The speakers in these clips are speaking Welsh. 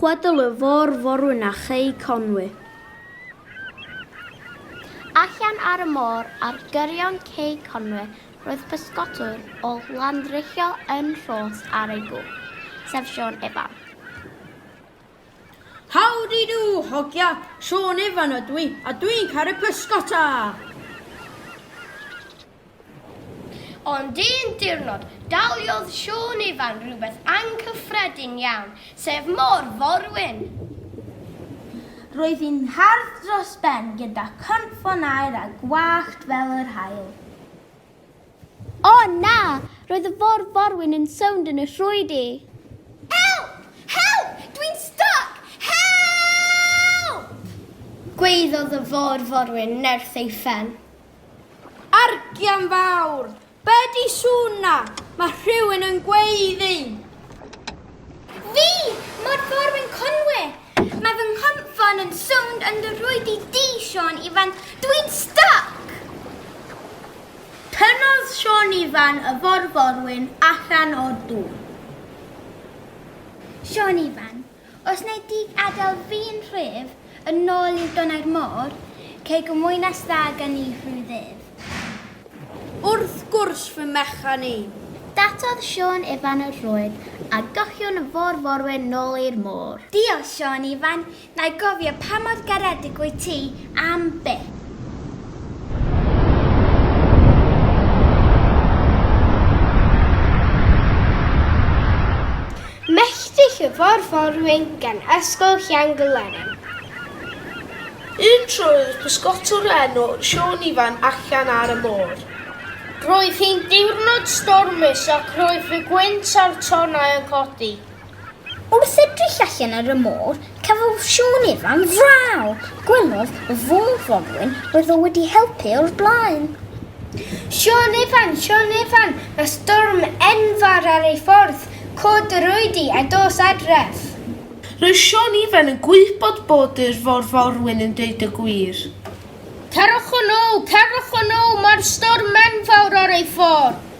Chwedl y Fôr Forwyn a Chei Conwy. Allan ar y môr ar gyrion Cei Conwy roedd pysgotwr o Landrecho yn rhos ar ei gŵr, sef Siôn Ifan. Howdy-do, hogia, Siôn Ifan ydw i, a dwi'n caru pysgota! Ond un diwrnod, daliodd Siôn Ifan rhywbeth anghyffredin iawn, sef Môr Forwyn! Roedd hi'n hardd dros ben gyda chynffon aer a gwallt fel yr haul. O na! Roedd y Môr Forwyn yn sownd yn y rhwydi! Help! Help! Dwi'n styc! Help! Gwaeddodd y Môr Forwyn nerth ei phen. Argian fawr! Be di sŵn na? Mae rhywun yn gweiddi! Fi! Mor fawr fy nghonwe! Mae fy nghonfon yn sownd yn dy rhwyd i di, Siôn Ifan! Dwi'n styc! Tynnodd Siôn Ifan y forforwyn allan o'r dŵr. Siôn Ifan, Os wnei di adael fi'n rhydd, yn nôl i'r donnau'r môr, cei gymwynas dda gen i rhyw ddydd. Wrth gwrs fy mechan i! Dathodd Siôn Ifan y rhwyd, a gochion y fôr-forwyn nôl i'r môr. Diolch, Siôn Ifan. Na'i gofio pa mor garedig wyt ti Am be? Melltith Cyfarforwyn gan Ysgol Llangylerin. Un tro roedd pysgotwr o enw Siôn Ifan allan ar y môr. Roedd hi'n diwrnod stormus ac roedd y gwynt a'r tonnau yn codi. Wrth edrych allan ar y môr, cafodd Siôn Ifan fraw. Gwelodd y fôr forwyn oedd o wedi helpu o'r blaen. Siôn Ifan, Siôn Ifan, mae storm enfawr ar ei ffordd, cod yr oedi a dos adref. Roedd Siôn Ifan yn gwybod bod yr fôr forwyn yn dweud y gwir. Cerwch yn ôl, cerwch yn ôl, mae'r storm enfawr ar ei ffordd.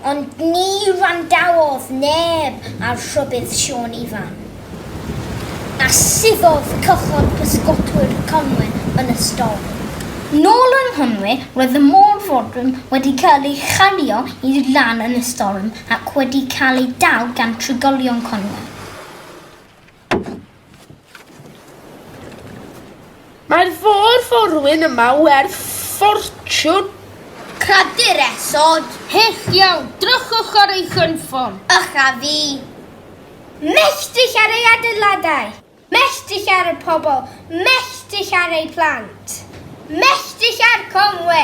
ond ni wrandawodd neb ar rhybudd Siôn Ifan, a suddodd cychod pysgotwyr Conwy yn y storm. Nôl yng Nghonwy, roedd y môr fodern wedi cael ei chario i lan yn y storm ac wedi cael ei dal gan trigolion Conwy. Mae'r fôr forwyn yma werth ffortiwn. Cradur esod. Hyll iawn, drychwch ar ei chynffon. Ych a fi. Melltith ar ei adeiladau. Melltith ar y pobl. Melltith ar ei phlant. Melltith ar Conwe.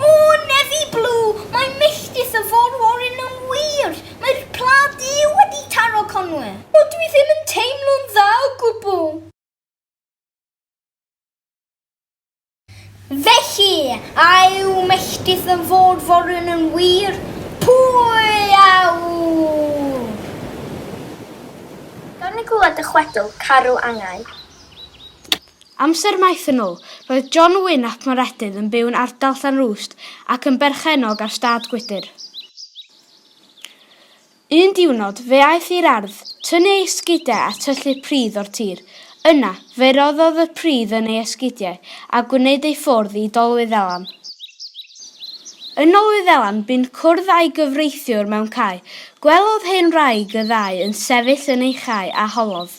O, Nefi Blu, mae milltis y Fôr-Warren yn wir! Mae'r Pla Du wedi taro Conwy! O, dwi ddim yn teimlo'n dda o gwbl! Felly, a yw milltis y Fôr-Warren yn wir? Pwy a ŵyr? Gawn ni glywed dy chwedl, Caru Angau? Amser maith yn ôl, roedd John Wyn ap Moredydd yn byw'n ardal Llanrwst ac yn berchennog ar stad gwydr. Un diwrnod, fe aeth i'r ardd, tynnu ei sgidiau a tyllu pridd o'r tir. Yna, fe roddodd y pridd yn ei esgidiau a gwneud ei ffordd i Dolwyddelan. Yn Nolwyddelan, bu'n cwrdd â'i gyfreithiwr mewn cae. Gwelodd hen wraig y ddau yn sefyll yn ei chae a holodd.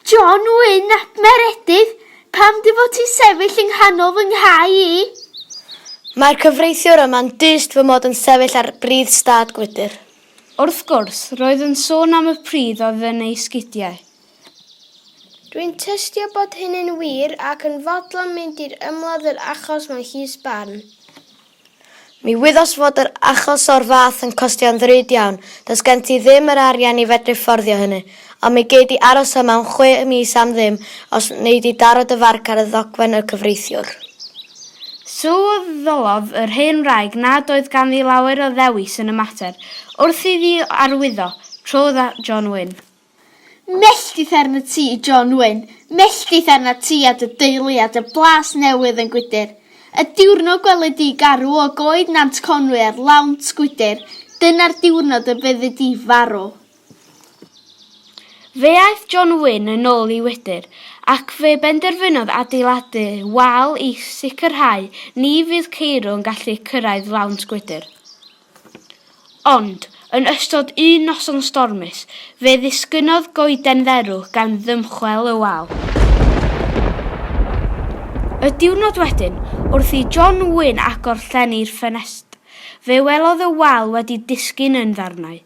John Wyn ap Meredydd, pam dy fod ti'n sefyll yng nghanol fy nghau i? Mae'r cyfreithiwr yma'n dyst fy mod yn sefyll ar bridd stad gwydr. Wrth gwrs, roedd yn sôn am y pridd oedd yn ei sgidiau. Dwi'n tystio bod hynny'n wir ac yn fodlon mynd i'r ymladd yr achos mewn llys barn. Mi wyddos fod yr achos o'r fath yn costio'n ddrud iawn, does gen ti ddim yr arian i fedru fforddio hynny, ond mi gei di aros yma am chwe mis am ddim os wnei di daro dy farc ar y ddogfen y cyfreithiwr. Sylweddolodd yr hen wraig nad oedd ganddi lawer o ddewis yn y mater, wrth iddi arwyddo, trodd at John Wyn. Melltith arnat ti, John Wyn, melltith arnat ti a dy deulu a dy blas newydd yn gwydr. Y diwrnod gweli di garw o goed Nant Conwy ar lawnt gwydr, dyna'r diwrnod y fyddi di farw. Fe aeth John Wyn yn ôl i wydr, ac fe benderfynodd adeiladu wal i sicrhau ni fydd ceirw yn gallu cyrraedd lawnt gwydr. Ond, yn ystod un noson stormus, fe ddisgynnodd goeden dderw gan ddymchwel y wal. Y diwrnod wedyn, wrth i John Wyn agor llen i'r ffenest, fe welodd y wal wedi disgyn yn ddarnau.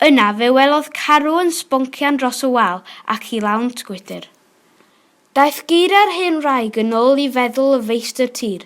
Yna, fe welodd carw yn sboncian dros y wal ac i lawnt gwydr. Daeth geiriau'r hen wraig yn ôl i feddwl y feistr tir,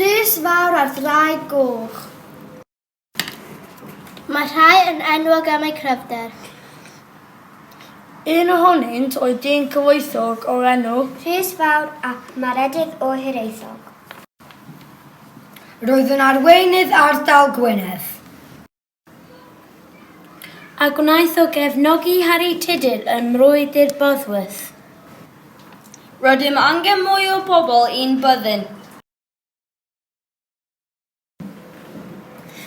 Rhys fawr ar ddraig goch. Mae rhai yn enwog am eu cryfder. Un ohonynt oedd dyn cyfoethog o'r enw. Rhys fawr ap Maredudd o Hiraethog. Roedd yn arweinydd ardal Gwynedd. A gwnaeth o gefnogi Harri Tudur ym Mrwydr Bosworth. Rydym angen mwy o bobl i'n byddin.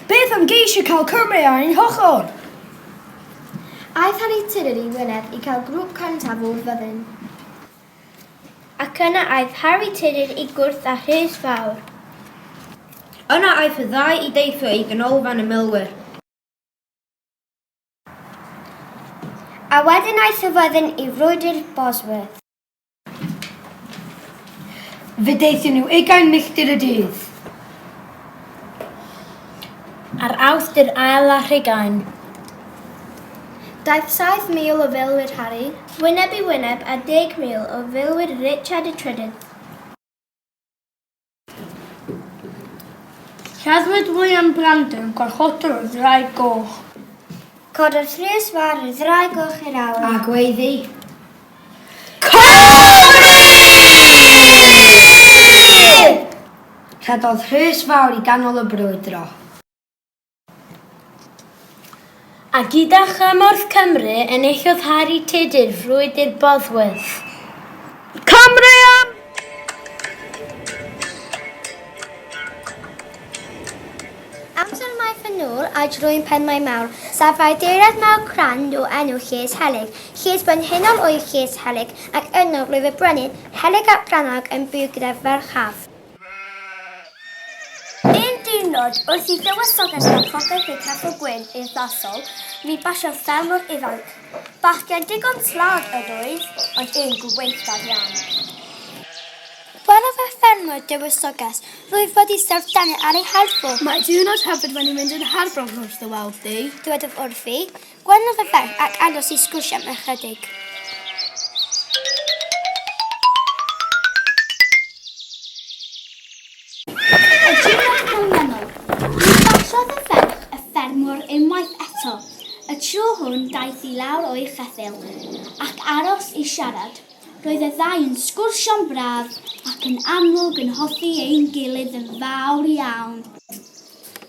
Beth am geisio cael Cymru ar ein hochr? Aeth Harri Tudur i Wynedd i cael grŵp cyntaf o'r fyddin. Ac yna aeth Harri Tudur i gwrdd â Rhys Fawr. Yna aeth y ddau i deithio i Ganolfan y Milwyr. A wedyn aeth y fyddin i frwydr Bosworth. Fe deithio nhw ugain milltir y dydd. Ar awth dy'r ail a rhegain. Daeth 7,000 o filwyr Harry, wyneb i wyneb a 10,000 o filwyr Richard y Trydydd. Lladdwyd William Brandon, gwarchodwr y Ddraig Goch. Cododd Rhys Fawr y Ddraig Goch i'r awyr. A gweiddi. Cymru! Rhedodd Rhys Fawr i ganol y brwydro. A gyda chymorth Cymru, enillodd Harri Tudur Frwydr Bosworth. Cymru am! Amser maith yn ôl a drwy'n penmai mawr, safai deirad mawr cran o enw Lles Helyg. Lles brenhinol oedd Lles Helyg, ac yno roedd y brenin, Helyg ap Brannog, yn byw gyda farchaf. Un diwrnod, wrth i dywysoges a phopeth y Capel Gwyn i'r Ddasol, mi basiodd ffermwr ifanc. Bachgen digon slad ŷd oedd, ond un gwaethaf iawn. Welodd y ffermwr dywysoges rwyf fod i syrth dani ar ei harfwr. Mae diwrnod hyfryd wedi mynd yn harbrof wrth dy weld di. Dywedodd wrthi, Gwelwch y ferch ac aros i sgwrsio am ychydig. Y diwrnod canlynol, cyfathrodd y ferch y ffermwr unwaith eto, y tro hwn daeth i lawr o'i cheffyl ac aros i siarad. Roedd y ddau yn sgwrsio'n braf ac yn amlwg yn hoffi ein gilydd yn fawr iawn.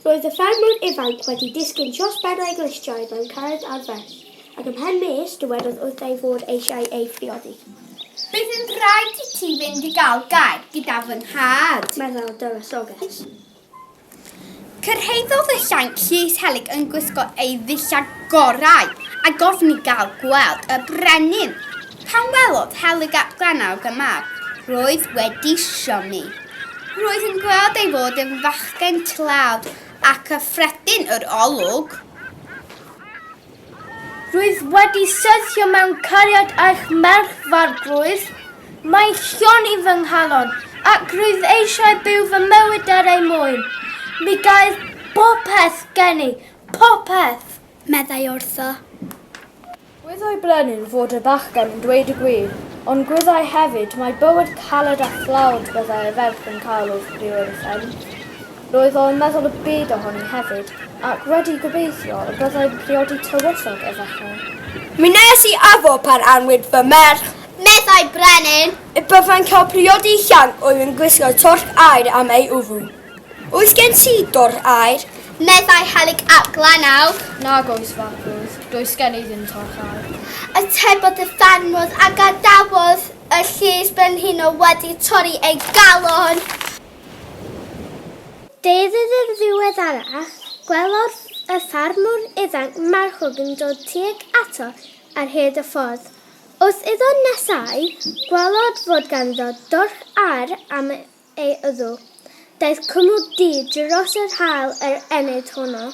Roedd y ffermwr ifanc wedi disgyn dros ben a'i glustiau mewn carreg arferth, ac ymhen mis, dywedodd wrtha ei fod eisiau ei phriodi. Bydd yn rhaid i ti fynd i gael gair gyda fy nhad, meddai'r dywysoges. Cyrhaeddodd y llanc llys helyg yn gwisgo ei ddillad gorau, a gofyn i gael gweld y brenin. Pan welodd Helyg ap Granawg y mab roedd wedi siomi. Roedd yn gweld ei fod yn fachgen tlawd a chyffredin yr olwg. Rwyf wedi syrthio mewn cariad â'ch merch f'arglwydd. Mae Llyr i fy nghalon, ac rwyf eisiau byw fy mywyd er ei mwyn. Mi gair popeth genni, popeth! meddai wrtho. Gwyddai Brenin fod y bachgen yn dweud y gwir, ond gwyddai hefyd mai bywyd caled a thlawd byddai y ferch yn cael wrth fyw yn y fferm. Roedd o yn meddwl y byd ohoni hefyd, ac wedi gobeithio y byddai'n priodi tywysog y fechan. Mi wnes i addo pan anwyd fy merch, meddai Brenin, y byddai'n cael priodi llanc oedd yn gwisgo torch aer am ei wddw. Oes gen ti dor aer? Meddai Helyg ap Glannawg. Nag oes, Fabwd, does gen i ddim torch aer. Atebodd y ffarmwr a gadawodd y llys brenhinol wedi torri ei galon. Deudydd yn ddiweddarach, gwelodd y ffarmwr ifanc marchog yn dod tuag ato ar hyd y ffordd. Wrth iddo nesáu, gwelodd fod ganddo dorch aer am ei ydw. Daeth cwmwl du dros yr haul yr enid honno,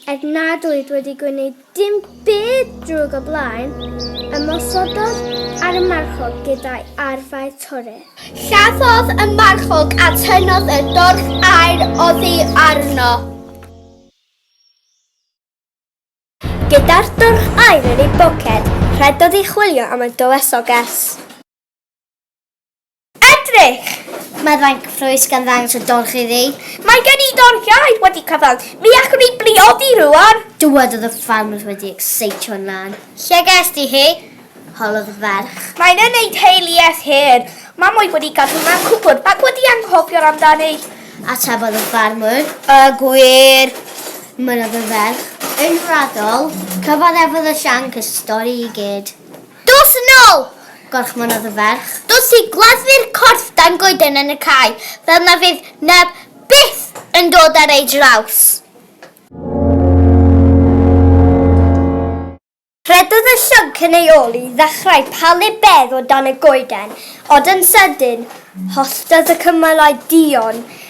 er nad oedd wedi gwneud dim byd drwg o blaen, ymosododd ar y marchog gyda'i arfau torur. Lladdodd y marchog a tynnodd y dorf aer oddi arno. Gyda'r dorf aer yn ei boced, rhedodd i chwilio am y dywysoges. Edrych! Mae fainc ffrwys gan ddangos y dorch iddi. Mae gen i doriaid wedi cyfan. Mi allwn ni briodi rwan. Dywedodd y ffarmwr wedi exeitio yn lan. Lle gest ti hi? Holodd y ferch. Mae'n yn ei teuluedd hen. Mam oedd wedi gadw mewn cwpwrdd ac wedi anghofio'r amdani. Atebodd y ffarmwr. Y gwir! Mynnodd y ferch. Yn raddol, cyfaddefodd y llanc y stori i gyd. Dos yn ôl! gorchmynnodd y ferch. Dos i gladdu'r corff dan goeden yn y cae, fel na fydd neb byth yn dod ar ei draws! Rhedodd y llync yn ei ôl i ddechrau palu bedd o dan y goeden, ond yn sydyn, holltodd y cymalau duon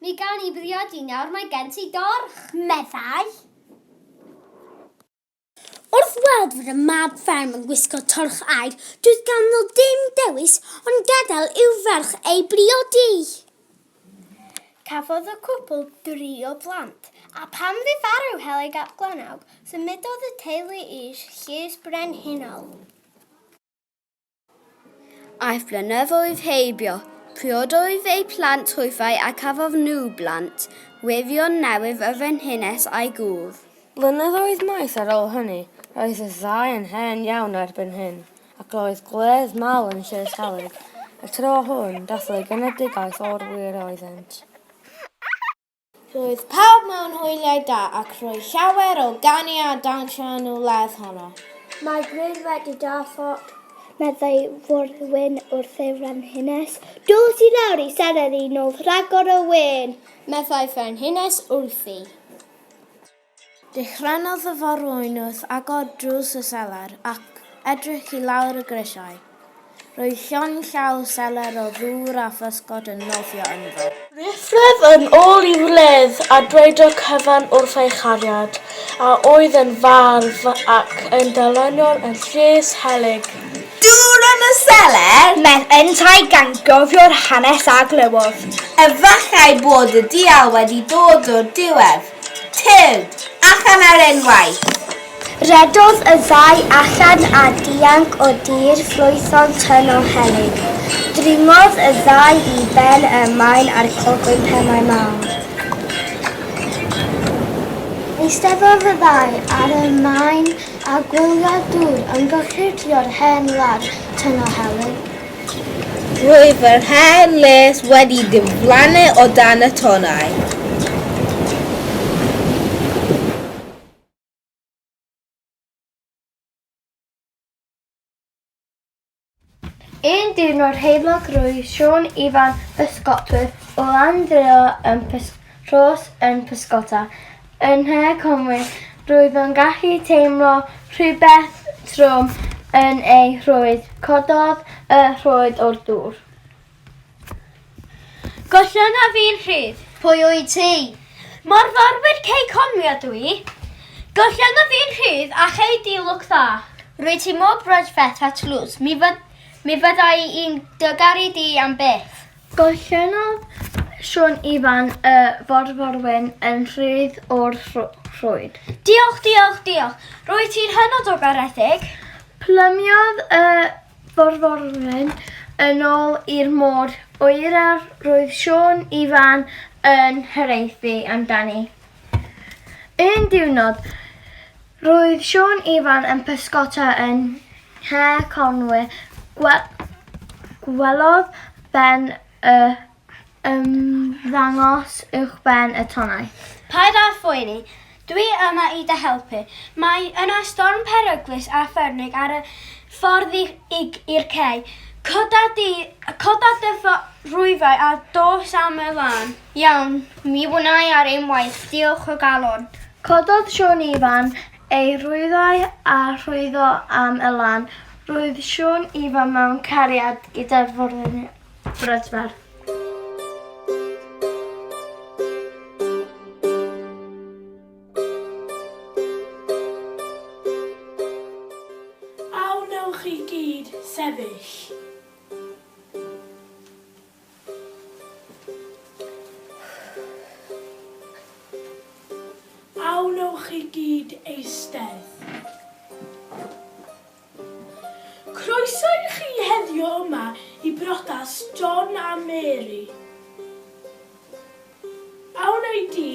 Mi gawn ni briodi nawr, mae gen ti dorch! meddai. Wrth weld fod y mab fferm yn gwisgo torch aer, doedd ganddo ddim dewis ond gadael i'w ferch ei briodi. Cafodd y cwpl dri o blant, a phan fu farw Helig ap Glannawg, symudodd y teulu i'r Llys Brenhinol. Aeth blynyddoedd heibio. Priododd ei phlant hwyfau a cafodd nhw blant, Wirion newydd y frenhines a'i gŵr. Blynyddoedd maith ar ôl hynny, roedd y ddau yn hen iawn erbyn hyn, ac roedd gwledd mawr yn Sir Selig, y tro hwn, dathlu genedigaeth o'r wir oeddent. Roedd pawb mewn hwyliau da ac roedd llawer o ganu a dawnsio yn y wledd honno. Mae Griff wedi deffro, meddai Forwyn wrth ei frenhines. Dos i lawr i siarad i nos rhagor o wên, meddai frenhines wrthi. Dychrynnodd y forwyn wrth agor drws y selar ac edrych i lawr y grisiau. Roedd llond llaw selar o ddŵr a physgod yn nofio ynddo. Rhyfedd yn ôl i wledd a dweud y cyfan wrth ei chariad, a oedd yn fardd ac yn dyluniwr yn Llys Helyg. Dŵr yn y selar? Mewn yntau gan gofio'r hanes a glywodd. Efallai bod y dial wedi dod o'r diwedd. Tyrd! Allan ar unwaith! Rhedodd y ddau allan a dianc o dir ffrwython tynn o helyg. Dringodd y ddau i ben y maen a'r clogwyn pennau mawr. Eisteddodd y ddau ar y maen a gwyliodd dŵr yn gorchudio'r hen wlad tynn o helyg. Roedd yr hen les wedi diflannu o dan y tonnau. Un diwrnod heulog roedd Siôn Ifan bysgotwr o Landreor yn Rhos yn pysgota Yn Nhŷ Conwy, roedd o'n gallu teimlo rhywbeth trwm yn ei rhwyd. Cododd y rhwyd o'r dŵr. Gollwng a fi'n rhydd. Pwy wyt ti? Morforwyr Cei Conwy ydw i. Gollwng a fi'n rhydd a chei di lwc dda. Rwyt ti mor brydferth a tlws, mi, fy, mi fyddai i'n dy garu di am byth. Gollynnodd Siôn Ifan y forforwyn yn rhydd o'r rhwyd. Diolch, diolch, diolch. Rwyt ti'n hynod o garedig. Plymiodd y forforwyn yn ôl i'r môr oer a roedd Siôn Ifan yn hiraethu amdani. Un diwrnod, Roedd Siôn Ifan yn pysgota yn nhre Conwy. Gwelodd Ben y ymddangos uwchben y tonnau. Paid â phoeni. Dwi yma i dy helpu. Mae yna storm peryglus a phernig ar y ffordd i'r cei. Coda dy rhwyfau a dos â 'mwy lan. Iawn, mi wna i ar ein waith, diolch o galon. Cododd Siôn Ifan ei rwyddau a rhwyddo am Elan. Roedd Siôn Ifan mewn cariad gyda'r frydferth. A wnewch chi gyd sefyll? A wnewch i gyd eistedd? Croeso i chi heddiw yma i briodas John a Mary. A wnei di?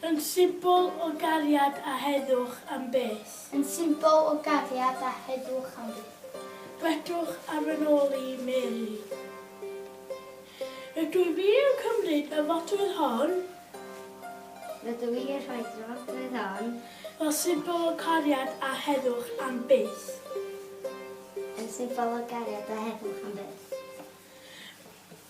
Yn symbol o gariad a heddwch am byth. Yn symbol o gariad a heddwch am byth. Gwedwch ar fy nôl i, Mary. Rydw fi yn cymryd y fodrwydd hon. Rydw i yn rhoi'r fodrwydd hon. Fel symbol o gariad a heddwch am byth. Yn symbol o gariad a heddwch am byth.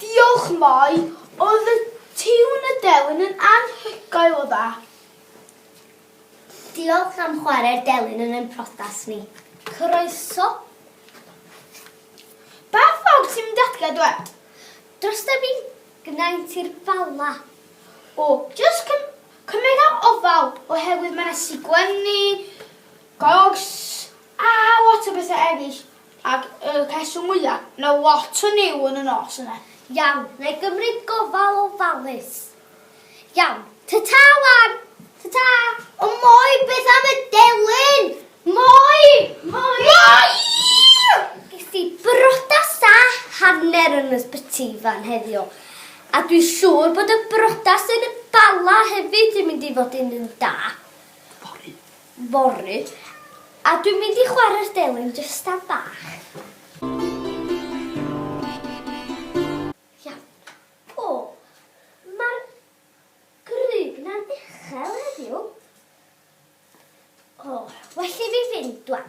Diolch Moi, oedd y tiwn y delyn yn anhygoel o dda. Diolch am chware'r delyn yn ein protas ni. Croeso. Pa ffog sy'n mynd adre dwed? Dros da fi, gnaent i'r Bala. O, jyst cym cymera ofal oherwydd mae na sigwenni, gogs a lot o bethau eraill. Ac y rheswm mwya, na lot o niw yn y nos yna. Iawn, na'i gymryd gofal ofalus. Iawn, ta-ta wan! Ta-ta! O Moi, beth am y delyn? Moi! Moi! Moi! Ges i brodas a hanner yn y sbyty fan heddiw, a dwi siŵr bod y brodas yn y Bala hefyd yn mynd i fod yn un da. Fory. fory a dwi'n mynd i chwarae'r delyn jyst am bach. Iawn. O! Mae'r grug 'na'n uchel heddiw. O, well i fi fynd 'wan.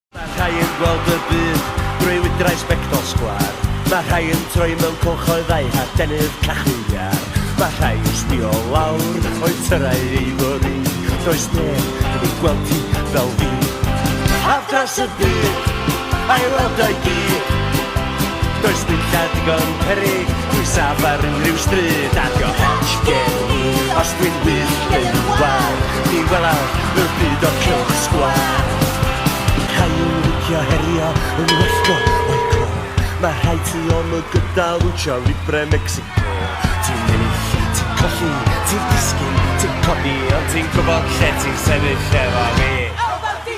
Mae rhai yn gweld y byd drwy wydrau sbectol sgwar. Mae rhai yn troi mewn cylchoedd a'u hadenydd cachu iar. Mae rhai yn sbio lawr o'u tyrau ei fory. Does neb yn ei gweld ti fel fi. Haf dros y byd, a'i weld o'i gyd. Does dim lle digon perig, dwi saf ar unrhyw stryd. A dio hech gen i, os dwi'n wyll yn war. Ti welai y byd o'r cylch sgwâr Rhai yn licio herio yn wellgo o'i co Mae rhai ti om y gyda lucha libre Mexico Ti'n ennill, ti'n colli, ti'n disgyn, ti'n codi Ond ti'n gwybod lle ti'n sefyll efo fi